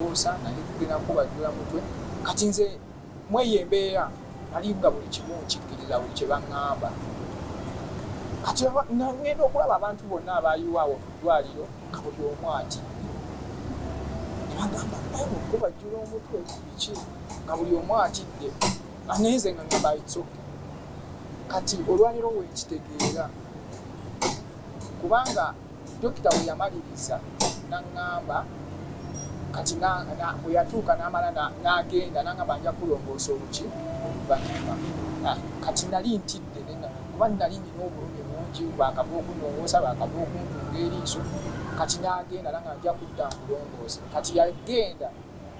Okubuusa naye tugenda kubajjula mutwe kati nze mweyo embeera nali nga buli kimu nkikkiriza buli kye baŋŋamba kati ngenda okulaba abantu bonna abaayiwa awo ku ddwaliro nga buli omu ati ne bagamba naye okubajjula omutwe biki nga buli omu atidde naye nze nga ngamba itsoke kati olwaliro weekitegeera kubanga Dokita bwe yamaliriza n'aŋŋamba kati bwe yatuuka n'amala n'agenda n'aŋŋamba nja kulongoosa oluki oluvannyuma. Ah, kati nali ntidde kuba nali nina obulumi bungi, baakava okunongoosa, baakava okuntunga eriiso. Kati n'agenda era nga nja kudda nkulongoosa. Kati yagenda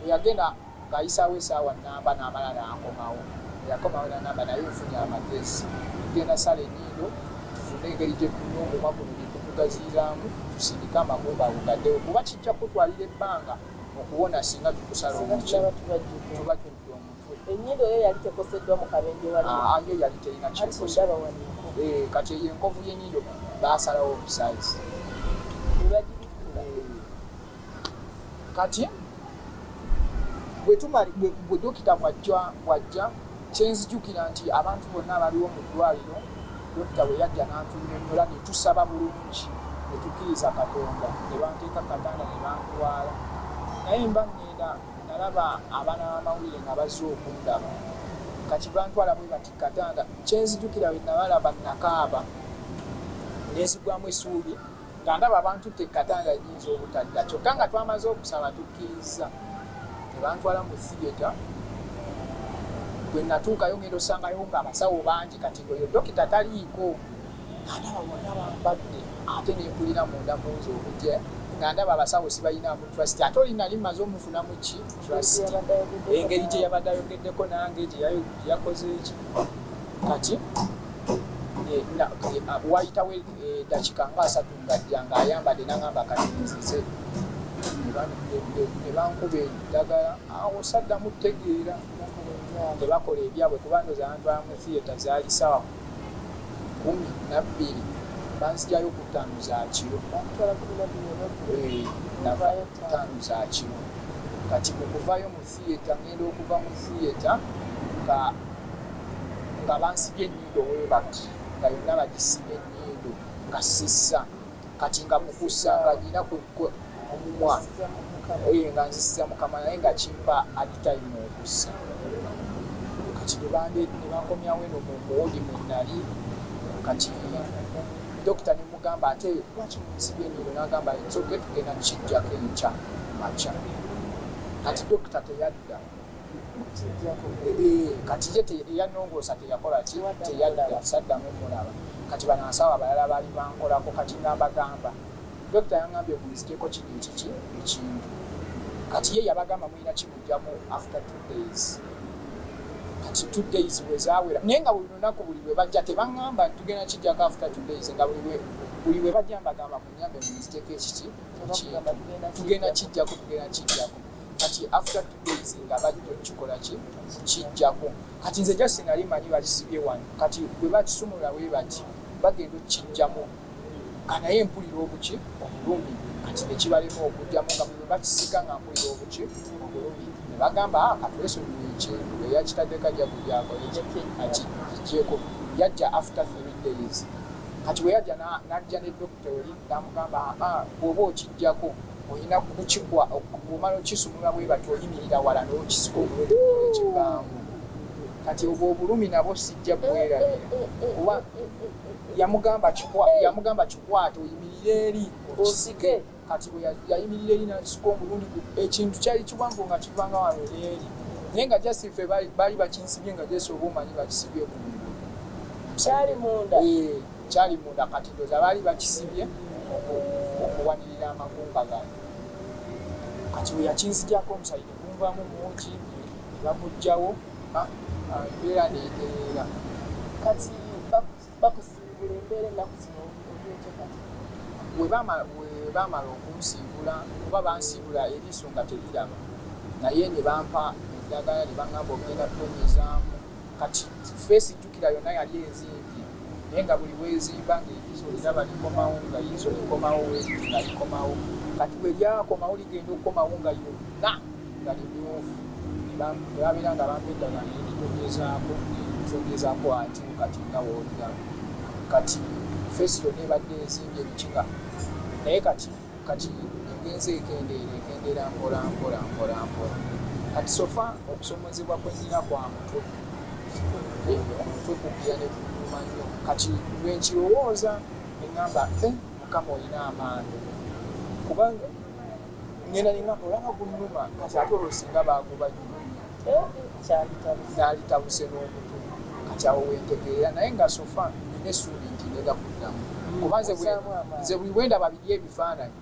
Bwe yagenda ng'ayisaawo esaawa nnamba n'amala n'akomawo. Bwe yakomawo n'angamba, Naye nfunye amagezi. Tugenda sala ennyindo tufune engeri gye tunywa omumwa guno gye tugugaziyizaamu tusindike amagumbago gaddewo kuba kijja kukutwalira ebbanga okuwona singa tukusala omukyi tuba tujja omutwe. Ennyindo yo yali tekoseddwa mu kabenje wali? Aa, yo yali terina ky'ekosebwa. Kati ndaba wano enkovu. Ee, kati eyo enkovu y'ennyindo baasalawo obusaze. Ne bagibikkula? Ee. kati gwe dokita bwajja kyenzijukira nti abantu bonna abaliwo mu ddwaliro dokita bwe yajja n'antunyonyola ne tusaba bulungi ne tukkiriza katonda ne banteeka katanda ne bantwala naye mba ŋŋenda nalaba abaana b'amawulire nga bazze okundaba kati bantwala bwe bati katanda kyenzijukira we nabalaba nakaaba nenzigwamu esuubi Nga ndaba abantutte ekkatanda enyinza obutadda kyokka nga twamaze okusaba tukkirizza ne bantwala mu Theatre. Bwe nnatuukayo ngenda osangayo ng'abasawo bangi kati ng'oyo dokita taliiko. Nga ndaba bonna bambadde ate ne mpulira munda mu nze obuje nga ndaba abasawo sibalinaamu trust ate oli nali mmaze omufunamu ki trust engeri gye yabadde ayogeddeko nange gye yakoze eki kati eh, eh, wayitawo edakika nga asatu ngajja nga ayambadde nangamba kati nzize nebankuba eddagala awo saddamu tegeera tebakola ebyabwe kuba ndoza antwala mu theatre zaali sawa kumi nabbiri banzijayo ku ttaano za kiro ttaano za kiro kati okuvayo mu theatre ngenda okuva mu theatre nga nga bansibye enyindo webat nga yonna bagisibye enyindo nga sissa kati nga mukusa nga nyina omumwa eye nga nzisiza mukama naye nga kimpa aditime okussa kati nebankomyawo eno mumuwodi mwenali kati dokita nemugamba ate lwaki munsibye enyindo nagamba nsoke tugenda kukijjako enkya makya Kati dokita teyadda eh, kati ye eyanongoosa teyakola ki teyadda saddamu mulaba kati banansawo abalala bali bankolako kati nga mbagamba dokita yangambye munzijeko kino ekiki ekintu kati ye yabagamba mulina kimujjamu after two days kati two days bwezawera naye nga buli lunaku buli bwe bajja tebaŋŋamba tugenda kijjako after two days nga buli bwe bajja mbagamba tugenda kijjako tugenda kijjako kati after two days nga bajja okukikola ki kijjako kati nze just nali manyi bakisibye wano kati bwe bakisumulula bwe bati bagenda okukijjamu kanaye mpulira obuki obulumi kati nekibalema okujjamu nga bwe bakisika nga mpulira obuki obulumi ne bagamba ah, katulesonyiwa ekintu eyakitadde kajja kujako eki ati kijjeko yajja after three days Kati bwe yajja n'ajja ne dokita oli n'amugamba aa bw'oba okiggyako olina kukikwa bw'omala okisumulula bwe batyo oyimirira wala n'okisika omulungi ekivaamu. Kati obwo obulumi nabwo sijja bwerabira kuba yamugamba kikwate oyimirire eri okisike. Kati bwe yayimirira eri n'akisuka omulundi gu, ekintu kyali kiwanvu nga kiva nga wano n'eri, naye nga just ffe baali bakinsibye nga just oba omanyi bakisibye ku mugulu. Kyali munda? Ee, kyali munda. Kati ndowooza baali bakisibye okuwanirira amagumba gano. Kati bwe yakinzigyako omusaayi ne gunvaamu mungi ne baguggyawo, ah, ah, embeera n'etereera. Kati bakusiibula embeera ennaku zino olyotya kati webaamala okunsiibula kuba bansiibula eriiso nga teriraba naye ne bampa eddagala ne bangamba ogenda tonyezaamu kati feesi jjukira yonna yali ezimbye naye nga buli wezimba ngaeriiso liraba likomawo nga iriiso likomawo nga likomawo kati weryakomawo ligenda okukomawo nga yonna nga limyufu ne babeera nga bampa eddagala ne lintonyezaako ne lintonyezaako ate kati nga w'olira kati feesi yonna ebadde ezimbye biki nga naye kati kati egenze ekendeera ekendeera mpola mpola mpola mpola kati sofa okusomozebwa kwe nnina kwa mutwe omutwe kubbira ne kunyuma nnyo kati lwe nkirowooza ne ŋŋamba eh, mukama olina amaanyi kubanga ngenda nina olaba gunuma kati ate olwo singa bagoba nalitabuse n'omutu kati awo wentegeera naye nga sofa nina essuubi nti ngenda kuddamu mm. kuba nze buli bwendaba biri ebifaananyi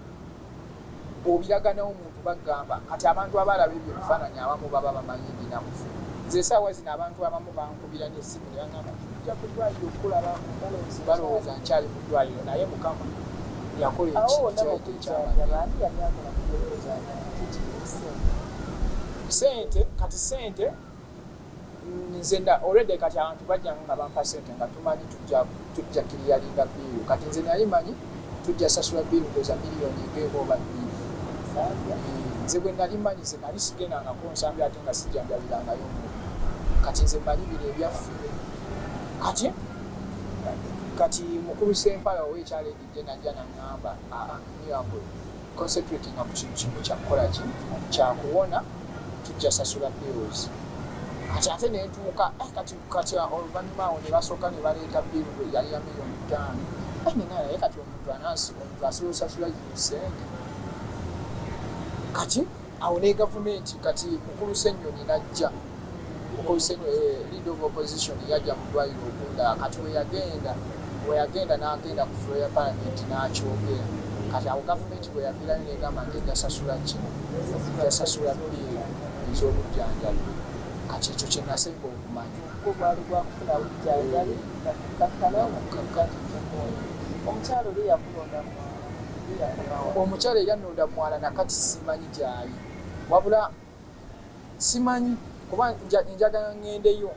obiraganawo omuntu bagamba kati abantu abaalaba ebyo ebifaananyi abamu baba bamanyi binamufu nze esaawa zino abantu abamu bangu Namukumbira n'essimu ne bangamba nti tujja ku ddwaaliro okukulaba balowooza nkyali mu ddwaaliro naye Mukama yakola ekintu kyabadde ekyamanyisente kati sente nze already kati abantu bajjanga nga bampa sente nga tumanyi tujja tujja kiriyalinga biiru kati nze nali manyi tujja sasula biiru ndoza miliyoni ngeemu oba biiru nze bwe nali manyi nze nali sigendangako nsambi ate nga sijjanjabirangayo kati nze manyi bino ebyaffe kati kati mukulu sempala owekyalo edidde najja naŋamba aamiyambwe concentrating ku kintu kimu kyakukola ki kyakuwona tujja sasula bills kati ate nentuuka eh, kati kati oluvanyuma awo nebasoka nebaleeta bill yali ya millioni ttaano nina naye kati omuntu anasiba omuntu asiba osasula yesente kati awo ne gavumenti kati mukulu senyoni najja mukulu senyoni eh, lead of opposition yajja mu ddwaliro okunda kati weyagenda weyagenda nagenda ku floor ya parliament nakyogera kati awo gavumenti bweyavirayo negamba nti egasasula ki egasasula bill ez'obujjanjabi Kati ekyo kye nasenga okumanya. Gwo gwali gwa kufuna bujjanjabi na kukkakkana nga tuliddwatikka emmundu. Omukyala oli eyakulonda mu mwala ye yakoma wa? Omukyala eyannonda mu mwala na kati simanyi gy'ali. Wabula simanyi kuba njagala ŋŋendeyo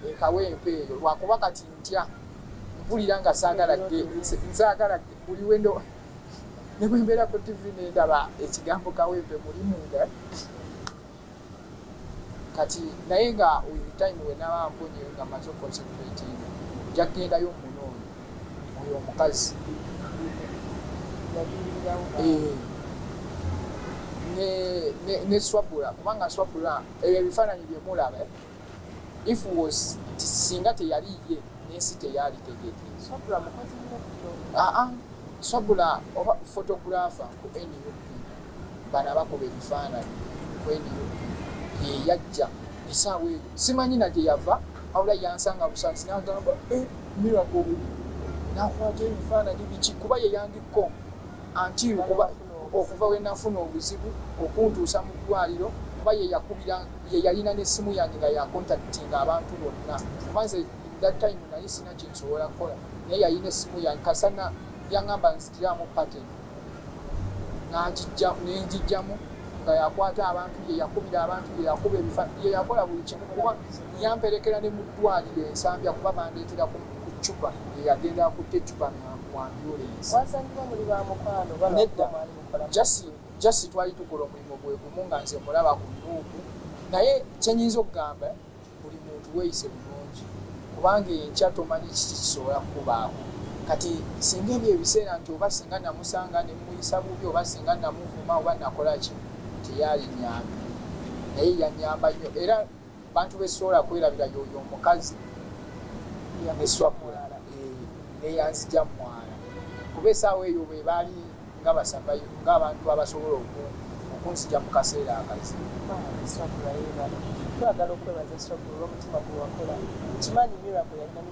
e Kawempe eyo lwakuba kati ntya mpulira nga saagala nsaagala buli we ndo ne bwe mbeera ku ttivi ne ndaba ekigambo Kawempe mulimu nga Kati naye nga with time wenaba mponyeyo nga maze oconcentratinga nja kugendayo munoonye oyo omukazi eh, ne, ne, ne swabula kubanga swabula ebyo ebifaananyi byemulaba If was nti singa teyali ye nensi teyaali tegeke. Swabula mukozi nnyo bro. Aa swabula oba photographer ku nup bano abakuba ebifaananyi ku nup yeyajja esaawa eyo simanyi najeyava wabula yansanga busansi nagamba eh miracle buli nakwata ebifaananyi biki kuba yeyandikko antiiru kuba okuva wenafuna obuzibu okuntuusa mu ddwaliro kuba yeyakubira ye yalina ne simu yange nga ya contactinga abantu bonna kuba nze that time nali sina kyensobola kukola naye yalina esimu yange kasana yangamba nzigiramu pattern nenjijjamu nga yakwata abantu ye yakubira abantu ye yakuba ebifa ye yakola buli kimu kuba yamperekera ne mu ddwaliro ensambya kuba bandeetera ku cupa ye yagenda akutte cupa mwambyulensi nedda jasi Just twali tukola omulimu gwegumu nga nze mulaba ku nup naye kyenyinza okugamba buli muntu weyise bulungi kubanga enkya tomanyi kiki kisobola kukubaako kati singa ebyo ebiseera nti oba singa namusanga nemuyisa bubi oba singa namuvuma oba nakolaki teyali nyambi naye yanyamba nyo era Abantu besisobola kwerabira yoyo omukazi eyamuswa mulala neyanzija mumwala kuba esaawa eyo bwebaali nga ba survive nga abantu abasobola oku okunzija mukaseera akazibu. Bambi Swabura yebale. Twagala okwebaza Swabura olwomutima gwewakola. Nkimanyi miracle yalina.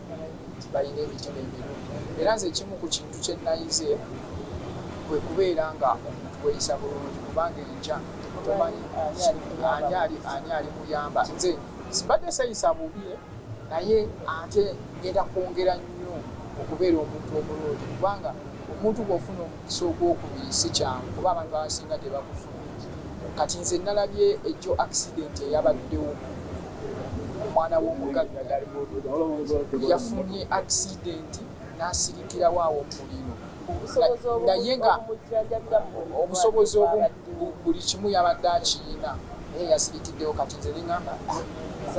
nti balina emitima emirungi era nze ekimu ku kintu kye nnayize kwe kubeera nga omuntu weeyisa bulungi kubanga enkya tomanyi ani alimuyamba nze sibadde seeyisa bubi naye ate ngenda kwongera nnyo okubeera omuntu omulungi kubanga omuntu bw'ofuna omu so ogwokubiri sikyangu kuba abantu abasinga tebakufuna kati nze nalabye ejjo accident eyabaddewo omwana w'omugagga yafunye accident n'asirikirawo awo omuliro naye nga obusobozi buli kimu yabadde akiyina naye yasirikiddewo kati nze neŋamba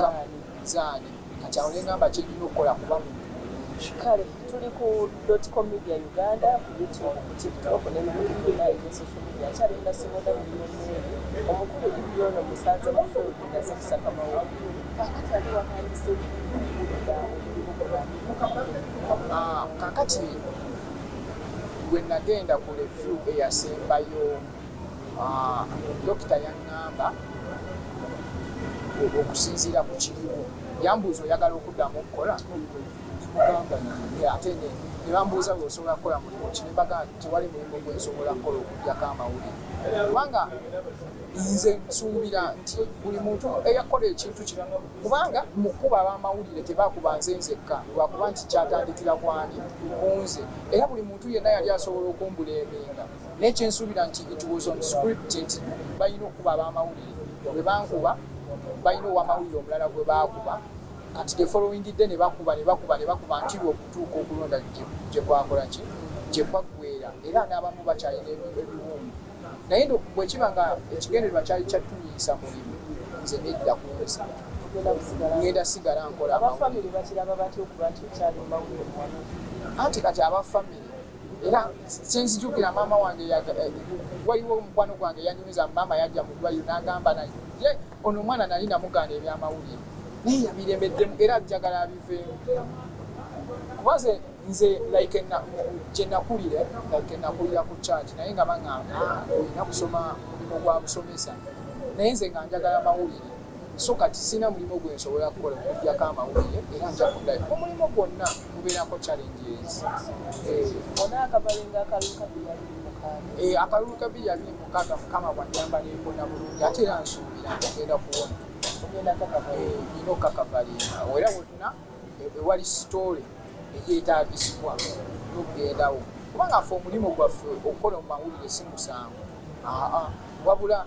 ah, zaani kati awo nengamba kyendina okukola kuba muntu mulungi kale tuli ku dotcom media uganda ku youtube ku tiktok ne mukukina eyo social media akyali ndasibona mulimo mungi omukulu ibyono musanze mufuludi naze kusaka mawulire kakati ali watandise kakati wenagenda ku review eyasembayo Ah, dokita yaŋŋamba okusinziira ku kiriwo yambuuza oyagala okuddamu okukola ate ne bambuuza bwe osobola kukola mulimu ki ne mbaga nti tewali mulimu gwe nsobola kukola okugyako amawulire kubanga nze nsuubira nti buli muntu eyakola ekintu kino kubanga mu kkuba ab'amawulire tebakuba nze nzekka lwakuba nti kyatandikira kwani kunze era buli muntu yenna yali asobola okumbuleemenga naye kyensuubira nti it was on script nti balina okukuba abamawulire bwebankuba balina owamawulire omulala gwebaakuba kati the following day nebakuba nebakuba nebakuba ntirwa okutuuka okulonda gyekwakolaki gyekwaggwera era n'abamu bakyalina ebiwundu naye bwekiba nga ekigendererwa kyali kyattumiisa mulimu nze nedda kunsi ngenda sigala nkola anti kati abafamire era sinzijukira maama wange eh, waliwo omukwano gwange yanyumiza maama yajja mu ddwaliro n'agamba naye ye ono omwana nali namugaana ebyamawulire naye yabiremeddemu era ajjagala abiveemu kuba ze nze like gyenakulire like nakulira ku charge naye nga baŋamba ah, olina kusoma mulimu gwa busomesa naye nze nga njagala mawulire So kati sirina mulimo gwe nsobola kukola okujjako amawulire era nja kuddayo mu mulimo gwonna gubeerako challenges. Eh, akalulu ka bbiri abiri mukaaga mukama bw'annyamba ne mpona bulungi ate era nsuubira nti ngenda kuwona. Nina eh, okukakavalinga era wonna ewali eh, sitoole egyetaagisibwa n'okugendawo kubanga ffe omulimu gwaffe okukola mu mawulire si musango wabula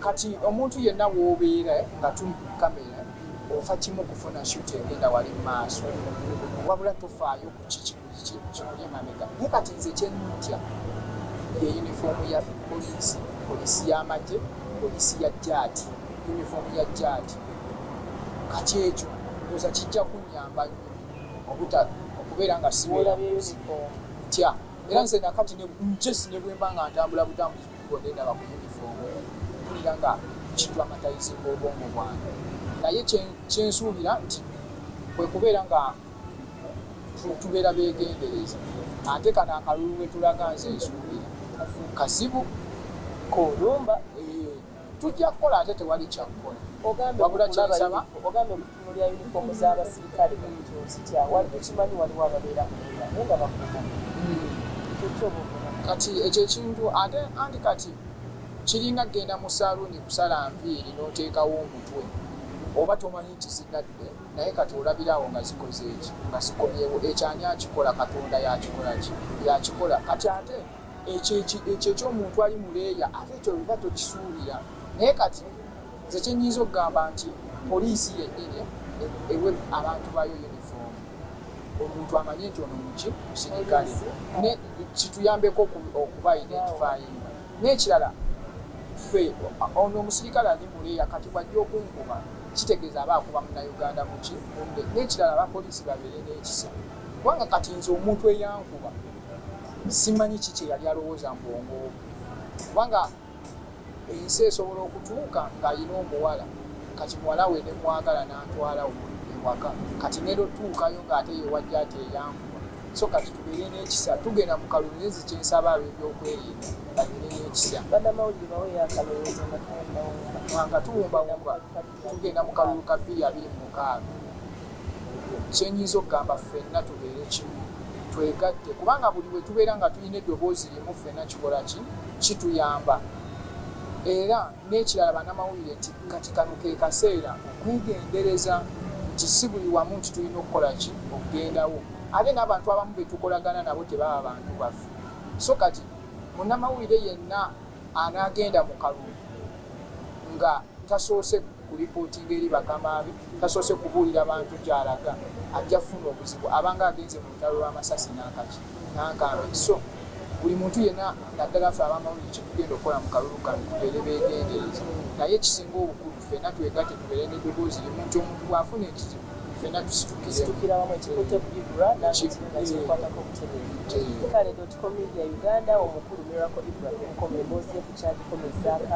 Kati omuntu yenna wobeera nga tuli ku camera ofa kimu kufuna shoot egenda wali mumaaso wabula tofaayo ku kiki kikuli emabega naye kati nze kyenntya ye uniform ya poliisi poliisi y'amagye poliisi ya jaati uniform ya jaati kati ekyo ndoza kijja kunyamba nnyo obuta okubeera nga siwera tya era nze nakati njesi ne bwemba nga ntambula butambuzi Bwe needaba ku yunifoomu, mpulira nga kidramatize obwongo bwange naye kye nsuubira nti kwe kubeera nga tubeera beegendereza ate kano akalulu we tulaga nze nsuubira kazibu koolumba. Tujja kukola ate tewali kya kukola wabula kye nsaba. Mulya uniform za basirikale ozitya wali tokimanyi waliwo ababeera munda naye nga bakuuma kyokyo buvuna. Kati ekyo ekintu ate anti kati kiringa kugenda mu saluuni kusala nviiri n'oteekawo omutwe oba tomanyi nti zinadde naye kati olabira awo nga zikozeeki nga zikomyewo ekyo ani akikola katonda yakikolaki yakikola kati ate ekyo ekyo ekyomuntu ali mu leeya ate ekyo biba tokisuubira naye kati Nze kye nnyinza okugamba nti poliisi yennyini ewe abantu baayo yunifoomu, omuntu amanye nti ono muki musirikale, ne kituyambeko okuba identifyinga. N'ekirala ffe ono omusirikale ali mu leeya kati bw'ajja okunkuba kitegeeza aba akuba Munnayuganda muki munne. N'ekirala abapoliisi babeere n'ekisa kubanga kati nze omuntu eyankuba simanyi ki kye yali alowooza mu bwongo bwe kubanga Ensi esobola okutuuka ng'alina omuwala kati muwala we ne mwagala n'antwala ewaka kati ngenda otuukayo ng'ate ye wa Jjaajja eyankuba so kati tubeere n'ekisa tugenda mu kalulu naye nze kye nsaba ab'ebyokwerinda babeere n'ekisa. Bannamawulire baweeyo akalowoozo nga tuwumbawumba. Nga tuwumbawumba. tugenda mu kalulu ka bbiri abiri mu mukaaga kye nyinza okugamba ffenna tubeere kimu twegatte kubanga buli bwe tubeera nga tulina eddoboozi limu ffenna kikola ki kituyamba era n'ekirala banamawulire nti kati kano ke kaseera okwegendereza nti si buli wamu nti tulina okukola ki okugendawo ate n'abantu abamu be tukolagana nabo tebaba bantu baffe so kati munamawulire yenna anaagenda mu kalulu nga tasoose kulipootinga eri bakama be, tasoose kubuulira bantu gy'alaga, ajja kufuna obuzibu. Abanga agenze mu lutalo lw'amasasi n'ankaki, n'ankambe. So, buli muntu yenna naddala ffe ab'amawulire kye tugenda okukola mu kalulu kano tubeere beegendereza. Naye ekisinga obukulu ffenna twegatte tubeere n'eddoboozi limu nti omuntu bw'afuna ekizibu, ffena tusitukire wamu ekikutte Bibra nange kiringa kyenkwatako butereevu kale dotcom media Uganda omukulu Miracle Ibrahim Nkomo emboozi ye ku kyagikomezaako awo.